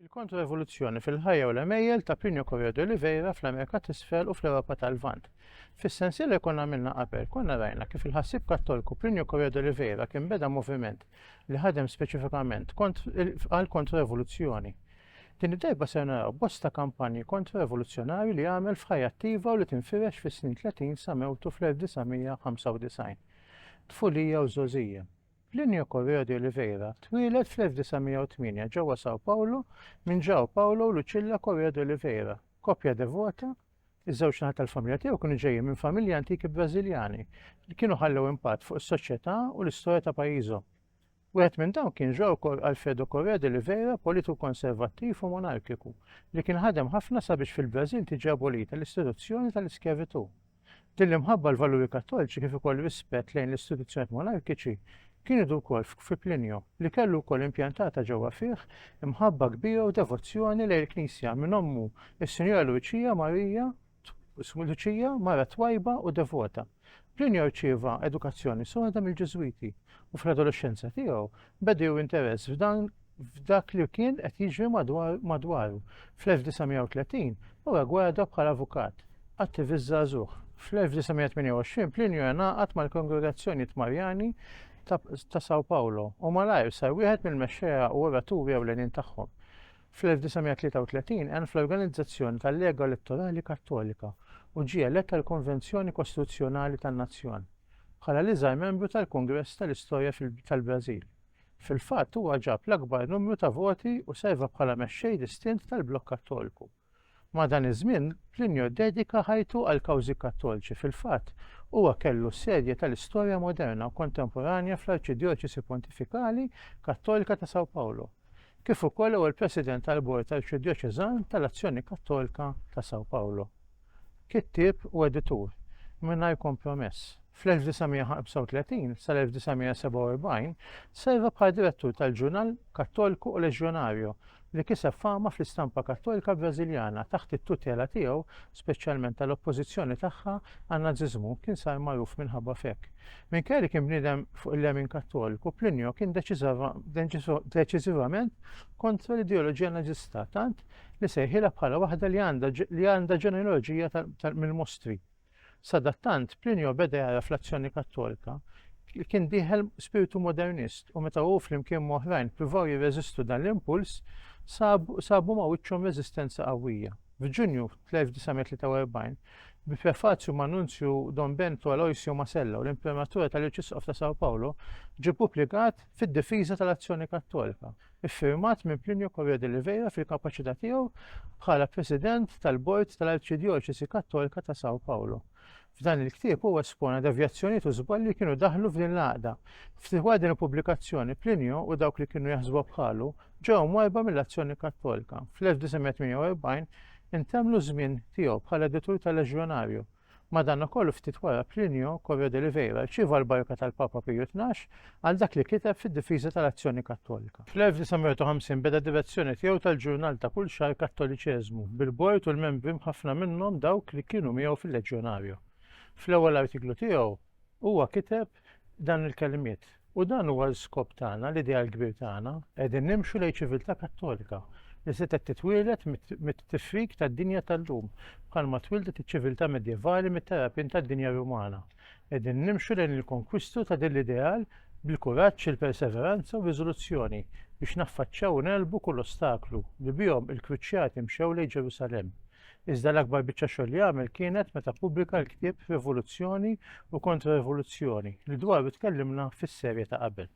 Il-kontro-evoluzzjoni fil-ħajja u l-għemejjel ta' Plinio Correa de Oliveira fl-Amerika t'Isfel u fl-Ewropa tal-Lvant. Fis-sensiela li konna għamilna qabel, konna rajna kif il-ħassieb Kattolku Plinio Correa de Oliveira kien beda moviment li ħadem speċifikament għal kontro-evoluzzjoni. Din id-darba ser naraw bosta kampanji kontro-evoluzzjonarji li għamel f'ħajja attiva u li tinfirex fis-snin 30 sa mewtu fl-1995. Tfulija u żgħożija. Plinio Correo de Oliveira twieled fl-1908 ġewwa São Paulo minn João Paulo u Lucilla Correo de Oliveira, koppja devota Iż-żewġ naħat tal-familja tiegħu kienu ġejjin minn familji antiki Brażiljani li kienu ħallew impatt fuq is-soċjetà u l-istorja ta' pajjiżhom. Wieħed minn dawn kien Jorkor Alfredo Correa de Oliveira, politiku konservattiv u monarkiku, li kien ħadem ħafna sabiex fil-Brażil tiġi abolita l-istituzzjoni tal-iskjavitù. Din l-imħabba l-valuri Kattolċi kif ukoll rispett lejn l-istituzzjonijiet monarkiċi kien idur korf fi Plinio, li kellu wkoll impjantata ġewwa fih imħabba kbira u devozzjoni lejn il-Knisja minn ommu s-Sinjura Luċija Marija Ismu Luċija, mara twajba u devota. Plinio rċieva edukazzjoni soda mill-Ġiżwiti u fl-adolexxenza tiegħu beda jew interess f'dan f'dak li kien qed jiġri madwaru. Fl-1930 huwa gwada bħala avukat, attivist żagħżugħ. Fl-1928 Plinio ingħaqad mal-kongregazzjonijiet Marjani ta' Sao Paolo u malajr sar wieħed mill-mexxejja u oraturi ewlenin tagħhom. Fl-1933 għen fl-organizzazzjoni tal-Lega Elettorali Kattolika u ġie elett għall-Konvenzjoni Kostituzzjonali tan-Nazzjon, bħala l-iżgħar membru tal-Kungress tal-istorja tal-Brażil. Fil-fatt huwa ġab l-akbar numru ta' voti u serva bħala mexxej distint tal-Blokk Kattolku Madan iż-żmien, Plinio ddedika ħajtu għall-kawżi Kattolċi, fil-fatt, huwa kellu s-sedja tal-istorja moderna u kontemporanja fl-Arċidjoċesi Pontifikali Kattolika ta' São Paulo, kif ukoll ewwel President tal-Bord Arċidjoċeżan tal-Azzjoni Kattolka ta' São Paulo. Kittieb u editur, mingħajr kompromess, fl-1935 sal-1947 serva bħala direttur tal-ġurnal Cattolico Legionario li kiseb fama fl-istampa Kattolika Brażiljana taħt it-tutela tiegħu, speċjalment tal-oppożizzjoni tagħha għan-Nażiżmu, kien sar magħruf minħabba f'hekk. Minkejja li kien bniedem fuq il-lemin Kattoliku, Plinio kien deċiżivament kontra l-ideoloġija Nażista, tant li sejħilha bħala waħda li għandha ġenealoġija mill-mostri. Sadattant, Plinio beda jara fl-azzjoni Kattolika li kien dieħel spirtu modernist u meta hu flimkien m'oħrajn pruvaw jirreżistu dan l-impuls, sabu ma' wiċċhom reżistenza qawwija. F'Ġunju tal-1943, bi prefazju ma' Nunzju Don Bento Aloisio Masella u l-Imprimatura tal-Irċisqof ta' Sao Paulo, ġie pubblikat fid-difiża tal-azzjoni Kattolika. iffirmat minn Plinio Correa de Oliveira fil-kapaċità tiegħu bħala President tal-Bord tal-Arċidjoċesi Kattolika ta' São Paulo. F'dan il-ktieb huwa espona devjazzjonijiet u żbalji li kienu daħlu f'din l-għaqda. Ftit wara din il-pubblikazzjoni, Plinio u dawk li kienu jaħsbu bħalu ġew mwajba mill-azzjoni Kattolika. Fl-1948 intemlu żmien tiegħu bħala editur tal-Leġjonarju Madankollu ftit wara Plinio Corro de Oliveira rċieva l-barka tal-Papa Piju Tnax għal dak li kiteb fid-difiża tal-Azzjoni Kattolika. Fl-1950 beda d-direzzjoni tiegħu tal-ġurnal ta' kull xahar Kattoliċeżmu, bil-bord u l-membri mħaffna minnhom dawk li kienu miegħu fil-Leġjonario. Fl-ewwel artiklu tiegħu, Huwa kiteb dan il-kelmiet, U dan huwa l-iskop tagħna, l-ideal kbir tagħna, qegħdin nimxu lejn ċiviltà Kattolika li setgħet titwieled mit-tifrik tad-dinja tal-lum, bħalma twildet iċ-ċiviltà Medjevali mit-terrapien tad-dinja Rumana. Qegħdin nimxu lejn il-konkwistu ta' din l-ideal bil-kuraġġ, il-perseveranza u r-riżoluzzjoni biex naffaċċjaw u negħlbu kull ostaklu li bihom il-kruċjati mxew lejn Ġerusalemm. Iżda l-akbar biċċa xogħol li għamel kienet meta ppubblika l-ktieb Rivoluzzjoni u Kontra-Rivoluzzjoni li dwaru tkellimna fis-serje ta' qabel.